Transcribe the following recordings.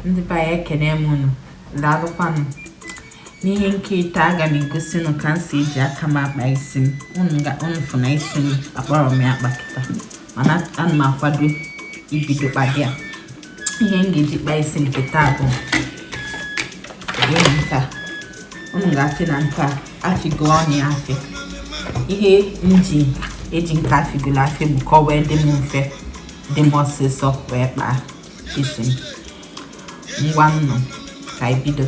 ndị be anyị ekene m unu daalụkwanụ n'ihe nkiri taa aga m egosi unu ka m si eji aka m akpa isi m unu ga unu fụ na isi m akparọ m ya akpa kịta mana ana m akwado ibido kpaba ya ihe m ga-eji kpa isi m kịta bụ ihe nka unu ga-afụ na nka afịgo ọnụ ya afị ihe m ji eji nke afịgolu afị bụ ka ọ wee dị m mfe dị m ọsịsọ wee kpaa isi m ngwa nụ ka anyị bido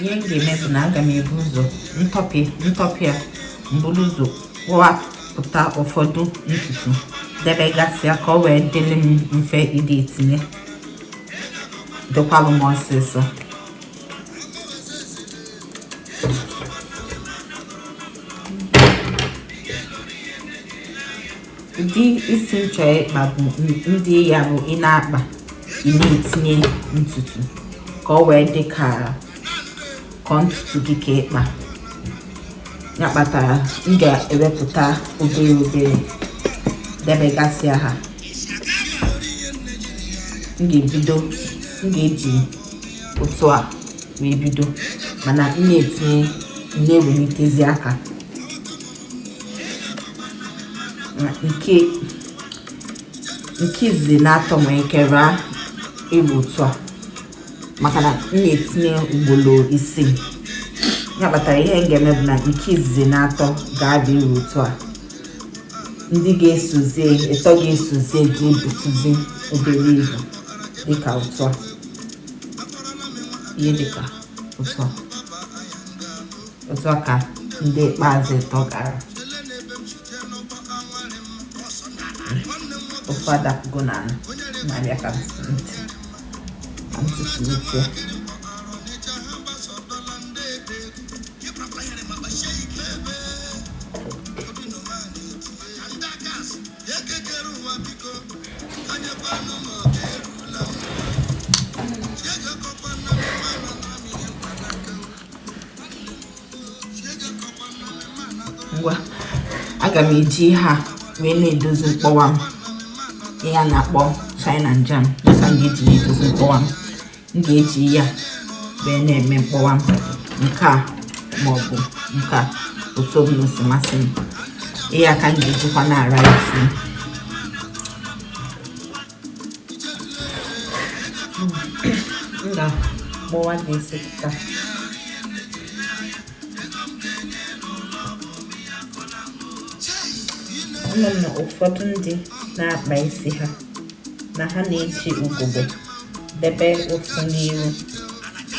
ihe m ga-eme bụ na aga m ebu ụzọ ntọpị ntọpị a m buru ụzọ wepụta ụfọdụ ntutu debegasịa ka ọ wee dịrị m mfe ịdị etinye dịkwalụ m ọsịsọ ụdị isi m chọrọ ịkpa bụ ndị ya bụ ị na-akpa ị na-etinye ntutu ka ọ wee dị ka ọ ntutu gị ka ị kpa ya kpatara m ga-ewepụta obere obere debegasịa ha m ga-ebido m ga-eji otu a wee bido mana m na-etinye na-ewelitezi aka nke nke izizi na-atọ nwere ike ịra ibu otu a maka na m na-etinye ugboro isii ya kpatara ihe m ga-eme bụ na nke izizi na-atọ ga-ara ibu otu a ndị ga-esozie ịtọ ga-esozie ga-ebutuzi obere ibu dịka otu a ihe dịka otu a otu a ka ndị ikpeazụ ịtọ ga-ara ofu adapụgo n'anị na-abịa ka m tụtụlite ngwa aga m eji ihe a wee na-edozi mkpọwa m ihe a na-akpọ shine n jam dịka m ga-eji na-edozi mkpọwa m m ga-eji ya wee na-eme mkpọwa m nke a ma ọ bụ nke a otu ọbụla si masị m ihe a ka m ga-ejikwa na-ara isi nna gbọwa na-esi pụta ama m na ụfọdụ ndị na-akpa isi ha na ha na-eji ugogbe debe ofu n'iru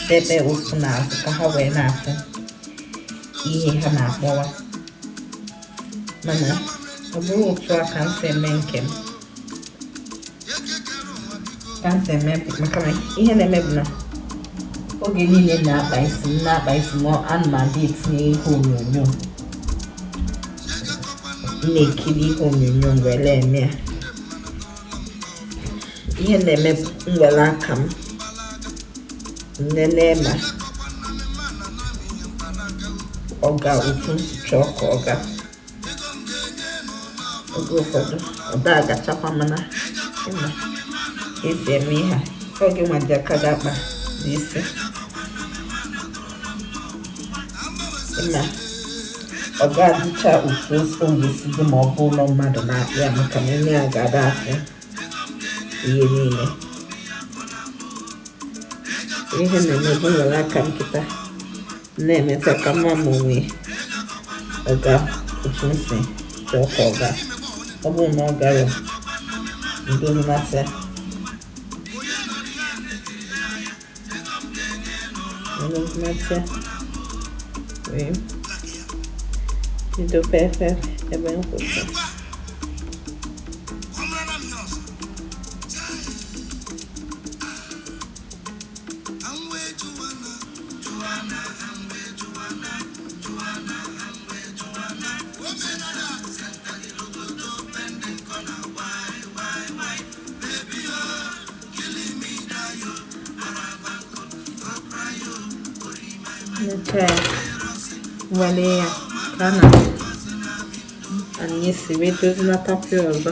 debe ofu n'azụ ka ha wee na-afụ ihe ha na-akpọwa mana ọ bụrọ otu a ka m si eme nke m ka m si eme maka na ihe m na-eme bụ na oge niile m na-akpa isi m na-akpa isi m ana m adị etinye ihe onyonyo m na-ekiri ihe onyonyo mgbe m na-eme ya ihe m na-eme bụ m were aka m lelee ma ọ ga otu m si chọọ ka ọ gaa oge ụfọdụ ọ da agachakwa mana ị ma esi eme ihe a oge nwa ji aka gị akpa isi na ọ da adịcha otu o ga-esi dị ma ọ bụrụ mmadụ na-akpa ya maka na ime ya ga-ada afụ ihe niile ihe m na-eme bụ m were aka m kịta na-emetụ aka mma m onwe ọ ga otu m si chọọ ka ọ gaa ọ bụrụ na ọ gara udo mmasị udo mmasị wee bido pepe ebe m kwụsị nke nwale ya ka na anyị si wee dozi na tapịa ọzọ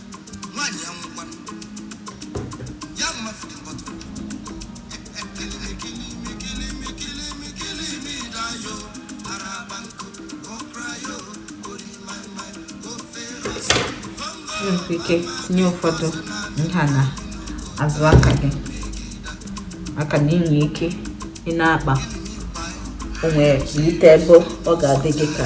nwaanyị ya nwụkwana ya mma fidi mkpọtụ nwere ike tinye ụfọdụ nha n'azụ aka gị maka na i nwe ike ị na-akpa onwe ite ebe ọ ga-adị gị ka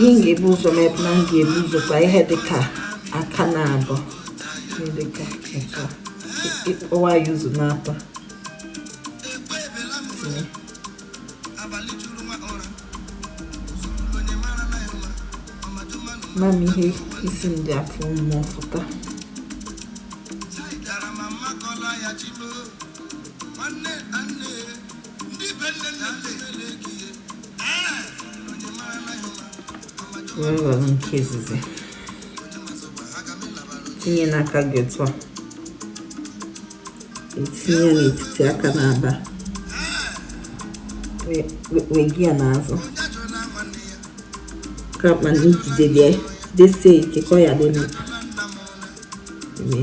ihe m ga-ebu ụzọ mee bụ na m ga-ebu ụzọ kpa ihe dịka aka na abụọ ihe dịka etu a ị kewa ya ụzọ n'atọ tinye mami ihe isi m dị afọ mmụọ fụta were were nke izizi tinye n'aka gị otu a etinye n'etiti aka naabọ wega ya n'azụ ka mana i jide bịa jidesie ike ka ọ ya dị mma tinye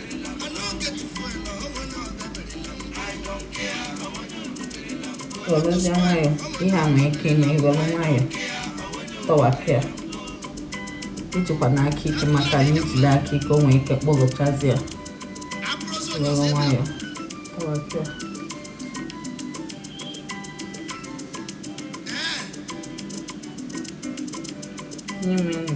Werezie nwayọ ihe a nwee ike ime i were nwayọ tọwapịa ejikwana aka ike maka na i jide aka ike o nwee ike kpọgochazi ya were nwayọ tọwapịa n'ime ndụ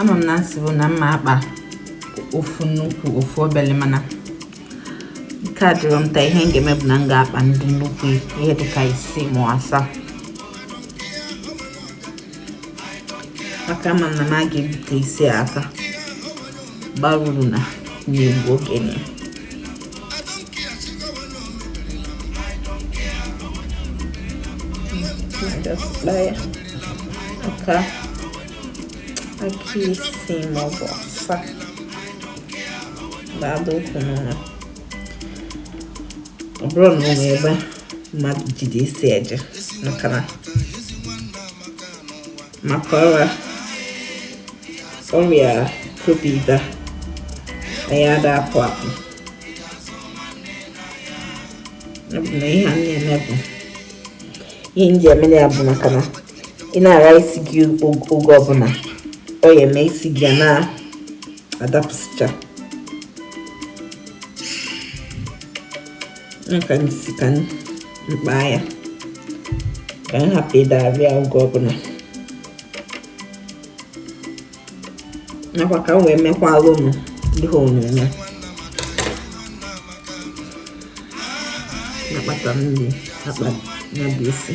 ama m na m sibu na m ma-akpa ofu nnukwu ofu obele mana ike adịrọ m taa ihe m ga-eme bụ na m ga-akpa ndị nnukwu ihe dịka isii ma asaa maka ama m na m a ga-ebute isi a aka ọ barọ uru na na-egbu oge na ya Just buy it. ka aka isii maọbụ asaa ga-adị okay n'ụlọ ọ bụrọ na o nwee ebe mmadụ jide isi eje maka na maka ọrịa ọrịa covid a anyị ada apụ apụ ọ bụ na ihe a na-eme bụ ihe m ji eme ya bụ maka na ị na-ara isi gị oge ọbụla ọ ya eme isi gị na-adapụsịcha ka m sị ka m kpaa ya ka m hapụ ịdị ara ya oge ọbụla nakwa ka m wee mekwala ụnụ ihe onyonyo nakpata nri akpa ya bụ isi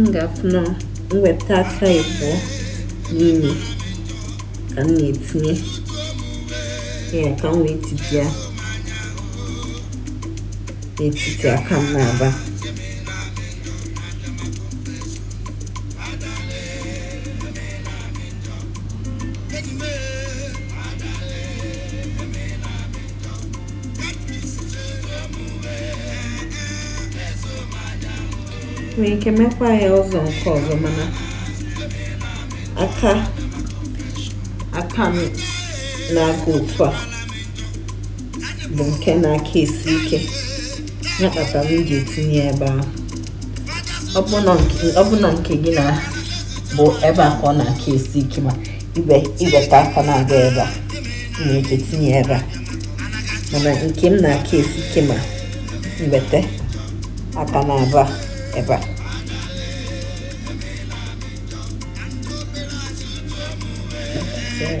m ga-afụ na m weta aka ịbụọ n'ime ka m na-etinye ya ka m wee titi ya n'etiti aka m na-aba nwere ike mekwa ya ụzọ nke ọzọ mana aka aka m na-aga otu a bụ nke na-aka esi ike ya kpatara m ji etinye ya ebe ahụ ọ bụ na nke gị na bụ ebe a ka ọ na-aka esi ike ma i wete aka na-aga ebe a nwere ike tinye ebe a mana nke m na-aka esi ike ma m wete aka na-aba ebe a Yeah.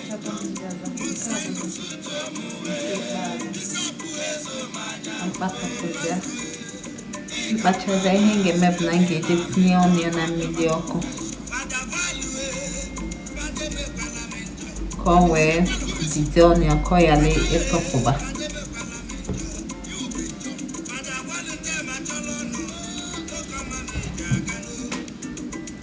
m kpapụta m kpachazie ihe m ga-eme bụ na m ga-eje tinye ọnụ ya na mmiri ọkụ ka o wee jide ọnụ ya ka ọ ghara ịtọpụba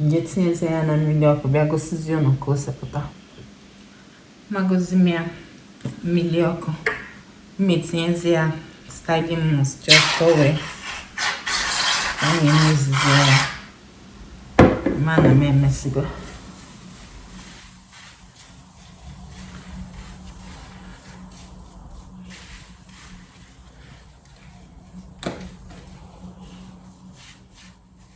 m je tinyezie ya na mmiri ọkụ bịa gosizie ụnụ ka o si pụta magozi m ya mmiri ọkụ m wee tinyezie ya styling mousse just ka o wee shine mezizie ya ma na m emesigo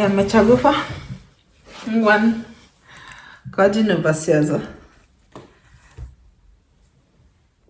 ya mechagokwa ngwanụ ka ọ dị n'ụbọsị ọzọ